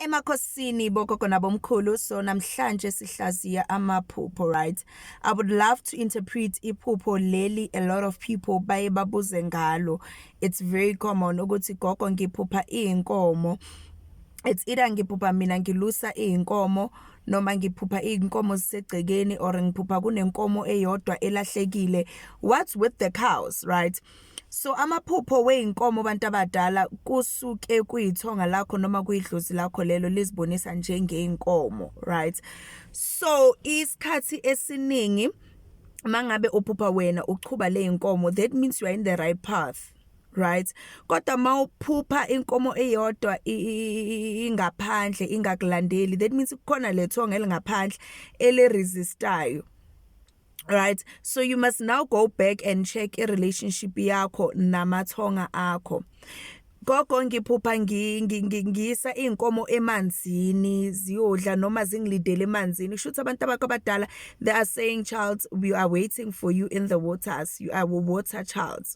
Emakhosini bogogo nabomkhulu so namhlanje sihlaziya amaphupho right I would love to interpret iphupho leli a lot of people baye babuze ngalo it's very common ukuthi gogo ngiphupha izinkomo it's either ngiphupha mina ngilusa izinkomo noma ngiphupha izinkomo zisegcekeni or ngiphupha kunenkomo eyodwa elahlekile what's with the cows right So amaphupho weyinkomo abantu abadala kusuke kuyithonga lakho noma kuyidlozi lakho lelo lizibonisa njengeinkomo right so isikhathi esiningi mangabe uphupha wena uchuba leyinkomo that means you are in the right path right kodwa mawuphupha inkomo eyodwa ingaphandle ingakulandeli that means kukhona lethonga elingaphandle ele resistayo right so you must now go back and check i relationship yakho namathonga akho gogo ngiphupha ngiyisa inkomo emanzini ziyodla noma zingilidele emanzini kusho ukuthi abantu abakho abadala they are saying child we are waiting for you in the waters you are water child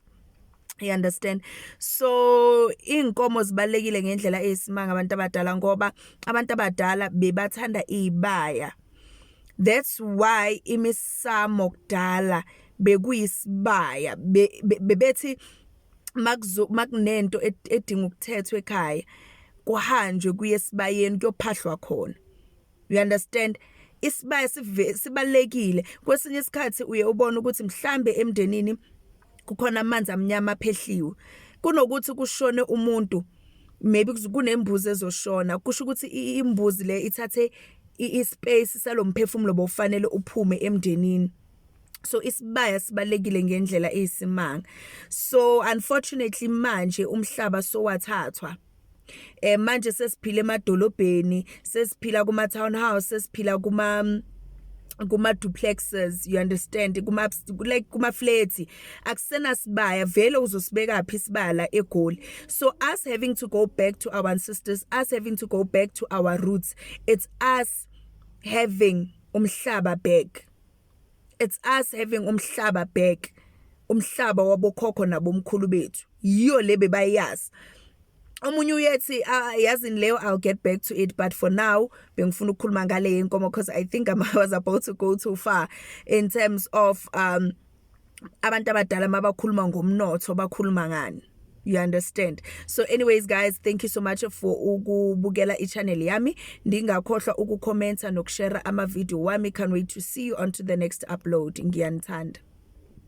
you understand so inkomo zibalekile ngendlela eyisimanga abantu abadala ngoba abantu abadala bebathanda izibaya That's why imisamo kudala bekuyisibaya bebethi makuzo makunento edinga ukuthethwa ekhaya kuhanjwe kuye sibayeni kuyophahlwa khona you understand isibaya sibalekile kwesinye isikhathi uye ubone ukuthi mhlambe emndenini kukhona amanzi amnyama aphehliwe kunokuthi kushone umuntu maybe kunembuzi ezoshona kusho ukuthi imbuzi le ithathe ispace salomphefumulo bofanele uphume emndenini so isibaya sibalekile ngendlela eyisimanga so unfortunately manje umhlaba sowathathwa eh manje sesiphila emadolobheni sesiphila kuma townhouse sesiphila kuma kuma duplexes you understand kuma like kuma flats akusena sibaya vele uzosibeka phi sibala egoli so us having to go back to our ancestors us having to go back to our roots it's us having umhlaba back it's us having umhlaba back umhlaba wabokhokho nabomkhulu bethu yiyo le bebayazi omunye uyethi ah, yazini leyo I'll get back to it but for now bengifuna ukukhuluma ngale yenkomo because I think I was about to go too far in terms of um abantu abadala mabakhuluma ngomnotho bakhuluma ngani you understand so anyways guys thank you so much for ukubukela ichannel yami ndingakhohlwa ukukhomenta nokushare ama video wami can't wait to see you on to the next upload ngiyanithanda